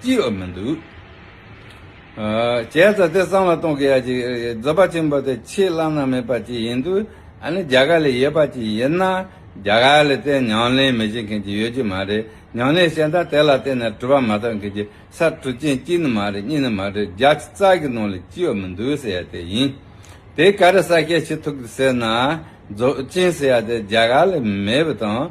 ཅི་ཡོད་མི་འདུག། བྱས་ཙང་དེ་སྲང་ལ་གཏོང་གི་ཡ་ཅིག་རྫོད་པ་ཆེན་པོ་དེ་ཁྱི་གླང་ནང་མི་པ་ཅིག་ཡིན་དུས་ཨ་ནི་རྒྱ་གར་ལས་ཡོད་པ་ཅིག་ཡིན་ན་རྒྱ་གར་ལས་བརྟེན་ཉང་ལེན་མི་བྱེད་མཁན་ཅིག་ཡོད་ཀྱི་མ་རེད་ཉང་ལེན་བྱས་མཐར་དེ་ལ་བརྟེན་ནས་གྲུ་པ་མ་ཐག་མཁན་ཀྱི་ས་གྲུ་ཅན་གཅིག་ནི་མ་རེད་གཉིས་ནི་མ་རེད་བརྒྱ་ཆ་རྩ་གི་ནང་ལས་ཅི་ཡོད་མི་འདུག་ཟེར་ཡ་དེ་ཡིན། དེ་ག་རེ་ས་སྐྱེས་ཁྱི་ཐུག་ཟེར་ན་རྫོད་ཅན་ཟེར་ཡ་དེ་རྒྱ་གར་ལས་མེད་པ་དང།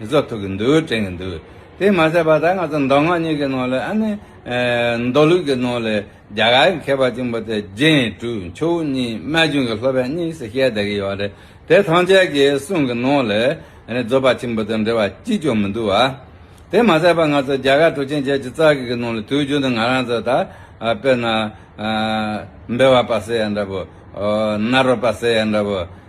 ཡིན་ཟོ་ཐུག་གི་འདུག་དྲན་གི་འདུག་དེ་མ་ཟད་པ་ད་ང་ཚོ་མདོ་སྔགས་གཉིས་ཀྱི་ནང་ལས་ཨ་ནི། མདོ་ལུགས་ཀྱི་ནང་ལས་རྒྱ་གར་གྱི་མཁས་པ་གཅིག་པོ་དེ་རྗེ་ཡིན་དྲུག་མཆོག་དབུ་གཉིས་རྨད་བྱུང་གི་ལྷོ་བལ་གཉིས་སུ་བཤད་བསྡད་ཀྱི་ཡོད་རེད་དེ་ཐམས་ཅད་ཀྱི་གསུང་གི་ནང་ལས་རྫོགས་པ་ཆེན་པོ་དང་འབྲེལ་བ་གཅིག་ཀྱང་མི་འདུག་བ། དེ་མ་ཟད་པ་ང་ཚོ་རྒྱ་གར་གྲུ་ཆེན་བརྒྱད་ཅུ་རྩ་གཅིག་གི་ནང་ལས་དུས་རྒྱུན་དུ་ང་རང་ཚོ་ད་དཔེར་ན། འབེལ་བ་པ་ཟེར་ཡ་འདྲ་པོ། ནཱ་རོ་པ་ཟེར་ཡ་འདྲ་པོ།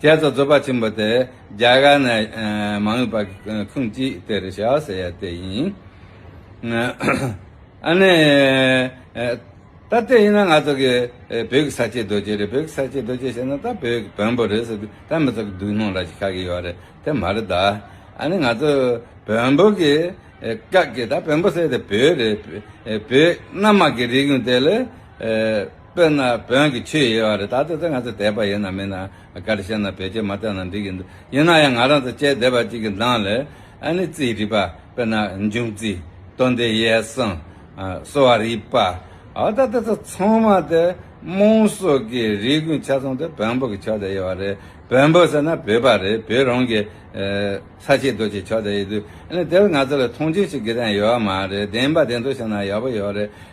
རྒྱལ་ཚོགས་རྩོད་པ་ཆེན་པོ་དེ་རྒྱ་གར་ནས་མ་ངུས་པ་ཁུངས་གཅིག་དེ་རེད་ཤག་ཟེར་ཡ་དེ་ཡིན། ཨ་ནི། ད་དེ་ཡིན་ན་ང་ཚོ་གི་བོད་ཀྱི་ས་སྐྱའི་རྡོ་རྗེ་རེད་བོད་ཀྱི་ས་སྐྱའི་རྡོ་རྗེ་ཞེས་ན་ད་བོད་ཀྱི་བོན་པོ་རེད་ཟེར་ད་མི་ཚོགས་ཀྱི་སྡུག་སྣང་ལ་ཞིག་ཁག་གི་ཡོད་རེད་དེ་མ་རེད་ད། ཨ་ནི་ང་ཚོ་བོན་པོ་གི་སྐབས་ཀྱི་ད་བོན་པོ་ཟེར་ཡ་དེ་བོད་རེད་བོད་རྣམ་མང་གི་རིགས་ཡུན་དེ་ལས། དཔེར་ན་བོན་གྱི་ཆོས་ཡོད་རེད་ད་ལྟ་ང་ཚོ་དད་པ་ཡོད་ན་མེད་ན་ག་རེ་བཤད་ན་བེད་སྤྱོད་མ་བཏང་ན་འགྲིག་གི་འདུག་ཡིན་ན་ཡང་ང་རང་ཚོ་དཔྱད་བདེ་བ་ཅིག་གི་མདངས་ལས་ཨ་ནི་རྩིས་རིག་པ་དཔེར་ན་འབྱུང་རྩིས་སྟོན་ཟླའི་ཡས་སྲང་གསོ་བ་རིག་པ་ཨོ་ད་དེ་ཚོ་ཚང་མ་དེ་རྨོངས་སོགས་ཀྱི་རིགས་ཀུན་ཆ་ཚང་དེ་བོན་པོ་གི་ཕྱོགས་དེ་ཡོད་བ་རེད་བོན་པོ་ཟེར་ན་བོད་པ་རེད་བོད་རང་གི་ས་ཆའི་རྡོ་ཆས་ཕྱོགས་དེ་ཡོད་དུས་ཨ་ནི་དེར་ང་ཚོ་ལ་མཐོང་ཆུང་བྱེད་དགོས་དོན་ཡོད་བ་མ་རེད་བདེན་པ་བདེན་ཐོག་བཤད་ན་ཡག་པོ་ཡོད་རེད་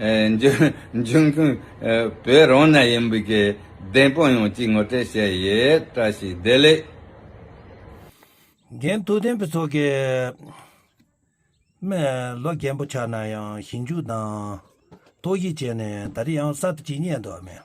འབྱུང་ཁུངས་བོད་རང་ན་ཡིན་པའི་བདེན་དཔང་ཡོང་ཅིག་ངོ་སྤྲད་བྱས་ཡོད་བཀྲ་ཤིས་བདེ་ལེགས། འགན་ཐུགས་ལྡན་པའི་ཚོགས་ཀྱི་སྨན་ལོ་རྒན་པོ་ཆགས་ན་ཡང་ཞིབ་འཇུག་དང་དོགས་གཞི་བྱས་ནས་ད་རེས་ཡང་གསར་དུ་ཇི་སྙེད་འདོད་མེད།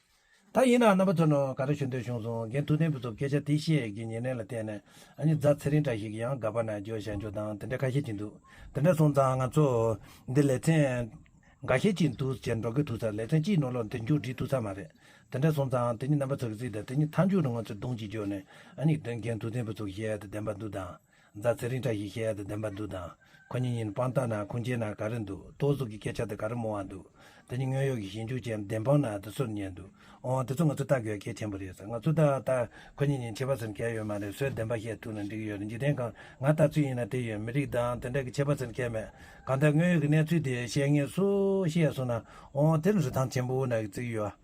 ད་ཡིན་ནའང་རྣམ་པ་ཚོ་ནང་ག་རེ་ཞུ་འདོད་བྱུང་སོང་རྒན་ཐུགས་ལྡན་བུ་ཚོ་སྐད་ཆ་དེ་བཤད་ཀྱི་ཉེ་གནས་ལ་བལྟས་ནས་ཨ་མྱེ་རྫ་ཚེ་རིང་འདྲ་ཞིག་གི་ཡང་དགའ་པ་ན་འགྱོ་བཞག་འགྱོ་དང་དེ་འདྲ་ཁ་ཤས་ཀྱི་འདུག་དེ་འདྲ་སོང་ཙང་ང་ཚོ་འདི་ལེ་ཚན་འགའ་ཤས་ཀྱི་འདུག་ཅེས་འབྲོག་གི་ཐུག་ས་ལེ་ཚན་གཅིག་ནོར་ལོག་འདི་མཇུག་བསྒྲིལ་ཐུག་ས་མ་རེད་དེ་འདྲ་སོང་ཙང་དེ་གཉིས་རྣམ་པ་ཚོ་གི་རྩིས་དང་དེ་གཉིས་མཐའ་མཇུག་ལ་ང་ཚོ་རྡུང་གཅིག་འགྱོ་ནས་ཨ་མྱེ་རྒན་ཐུགས་ལྡན་བུ་ཚོ་གཞས་དང་ལྡན་པ་འདུག་དང། རྫ་ཚེ་རིང་བཀྲ་ཤིས་ཤེས་ཡག་དང་ལྡན་པ་འདུག་དང། ཁོ་གཉིས་ཉིན་སྤང་སྟངས་དང་ཁུངས་སྐྱེལ་ན་ག་རེ་འདུག་རྟོག་གཟུགས་ཀྱི་སྐད་ཆ་དེ་ག་རེ་མོ་བ་འདུག་དེ་གཉིས་དངོས་ཡོད་ཀྱི་ཞིབ་འཇུག་བྱས་ན་བདེན་དཔང་ན་དེ་སུར་ཉན་འདུག་འོང་བ་དེ་ཚོ་ང་ཚོས་བལྟ་དགོས་པ་གལ་ཆེན་པོ་རེད་ང་ཚོས་བལྟ་བ་ལྟར་ཁོ་གཉིས་ཉིན་བྱེད་པ་ཟེར་མཁན་ཡོད་མ་རེད་སོས་བདེན་པ་བཤད་ཐུབ་ན་འགྲིག་གི་ཡོད་རེད་འཇིག་རྟེན་གང་ང་ལྟ་ཚུལ་ཡིན་ན་དེ་ཡོད་མི་རིགས་དང་དེ་འདྲ་གི་བྱེད་པ་ཟེར་མཁན་མེད་གང་ལྟར་དངོས་ཡོད་ཀྱི་གནས་ཚུལ་དེ་བཤད་ངེས་སུ་ཤེས་ཡག་སོང་ན་འོང་བ་དེ་རུ་རི་ཐང་ཆེན་པོ་ན་གི་བརྩིགས་ཡོད།